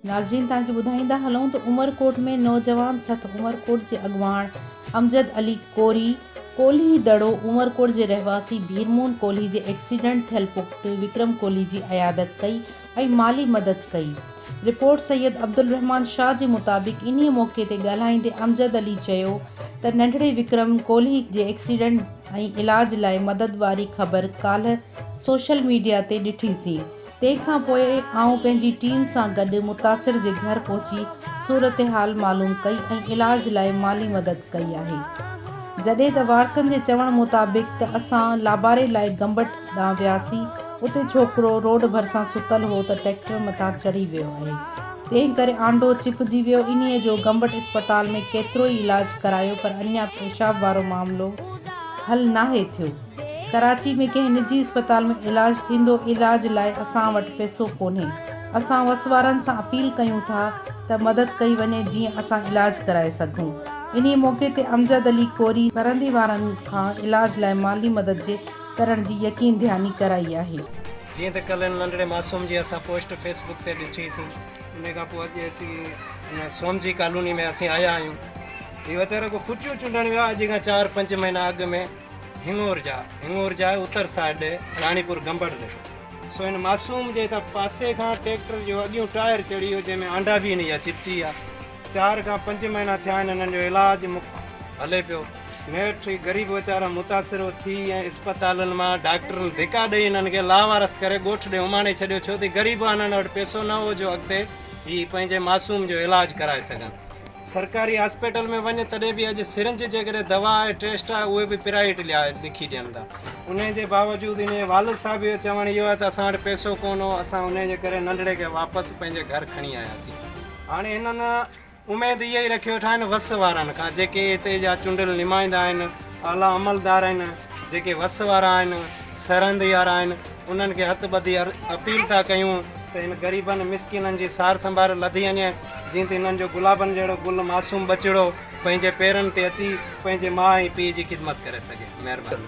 ناظرين توهان کي ٻڌائيندا هلون ته عمرڪوٽ ۾ نوجوان سٿ عمرڪوٽ جي اڳواڻ امجد علي ڪوري ڪولهي دڙو عمرڪوٽ جي رهواسي ڀيرمون ڪولهي جي ايڪسيڊنٽ ٿيل پٽ وڪرم ڪولهي جي عيادت ڪئي ۽ مالي مدد ڪئي. رپورٽ سيد عبدالرحمان شاهه جي مطابق انهيء موقعي تي ڳالهائيندي امجد علي چيو ته ننڍڙي وڪرم ڪولهي جي ايڪسيڊنٽ ۽ علاج لاء مدد واري خبر ڪالهه سوشل ميڊيا تي ڏٺي سين تنهن کان پوء آئون پنهنجي ٽيم سان گڏ متاثر جي گهر پهچي صورتحال معلوم ڪئي ۽ علاج لاء مالي مدد ڪئي آهي جڏهن ته وارثن جي چوڻ مطابق ته اسان لاباري لاء گمبٽ ڏانهن وياسين اتي ڇوڪرو روڊ ڀرسان ستل هو ته ٽريڪٽر مٿان چڙهي ويو آهي تنهن ڪري آنڊو چپجي ويو انهي جو گمبٽ اسپتال ۾ ڪيترو ئي علاج ڪرايو پر اڃا پيشاب وارو معاملو حل ناهي ٿيو ڪراچي ۾ ڪنهن نجي اسپتال ۾ علاج ٿيندو علاج لاء اسان وٽ پيسو ڪونهي اسان وس وارن سان اپيل ڪيون ٿا ته مدد ڪئي وڃي جيئن اسان علاج ڪرائي سگهون انهي موقعي تي امجد علي ڪوري سرهندي وارن کان علاج لاء مالي مدد جي ڪرڻ جي يقين دهاني ڪرائي آهي. جيئن ته ڪلهه ان ننڍڙي معصوم جي اسان پوسٽ فيس بڪ تي ڏسي سين. انهي کان پوء اڄ اچي ان سومجي ڪالوني ۾ اسين آيا آهيون. هي ويچارو رڳو ڦٽيون چونڊڻ ويو آهي. اڄ کان چار پنج مهينا اڳ ۾ هڱور جا هڱور جا آهي اتر سائيڊ ڏي راڻي پور گنبڙ ڏي سو ان معصوم جي هتان پاسي کان ٽيڪٽر جو اڳيون ٽائر چڙهي ويو جنهن ۾ آنڊا به هن جا چپچي ويا. چار کان پنج مهينا ٿيا آهن انهن جو علاج هلي پيو نيٺ هي غريب ويچارا متاثر ٿي ۽ اسپتالن مان ڊاڪٽرن ڌڪا ڏئي انهن کي لاوارث ڪري ڳوٺ ڏي اماڻي ڇڏيو ڇو ته غريب انهن وٽ پئسو نه هو جو اڳتي هي پنهنجي معصوم جو علاج ڪرائي سگهن سرڪاري هاسپيٽل ۾ وڃ تڏهن به اڄ سرنج جيڪڏهن دوا آهي ٽيسٽ آهي اهي به پرائيويٽ لکي ڏين ٿا ان جي باوجود ان جي والد صاحب جو چوڻ اهو آهي ته اسان وٽ پئسو ڪونه هو اسان ان جي ڪري ننڍڙي کي واپس پنهنجي گهر کڻي آياسين هاڻي هنن اميد اها ئي رکي ويٺا آهن وس وارن کان جيڪي هتي جا چونڊيل نمائندا آهن، اعليٰ عملدار آهن، جيڪي وس وارا آهن، سرهند يارا آهن، انهن کي هٿ ٻڌي اپيل ٿا ڪيون ته هن غريبن مسڪينن جي سار سنڀار لڌي وڃي جيئن ته هنن جو گلابن جهڙو گل معصوم ٻچڙو پنهنجي پيرن تي اچي پنهنجي ماء ۽ پيء جي خدمت ڪري سگهي. مهرباني.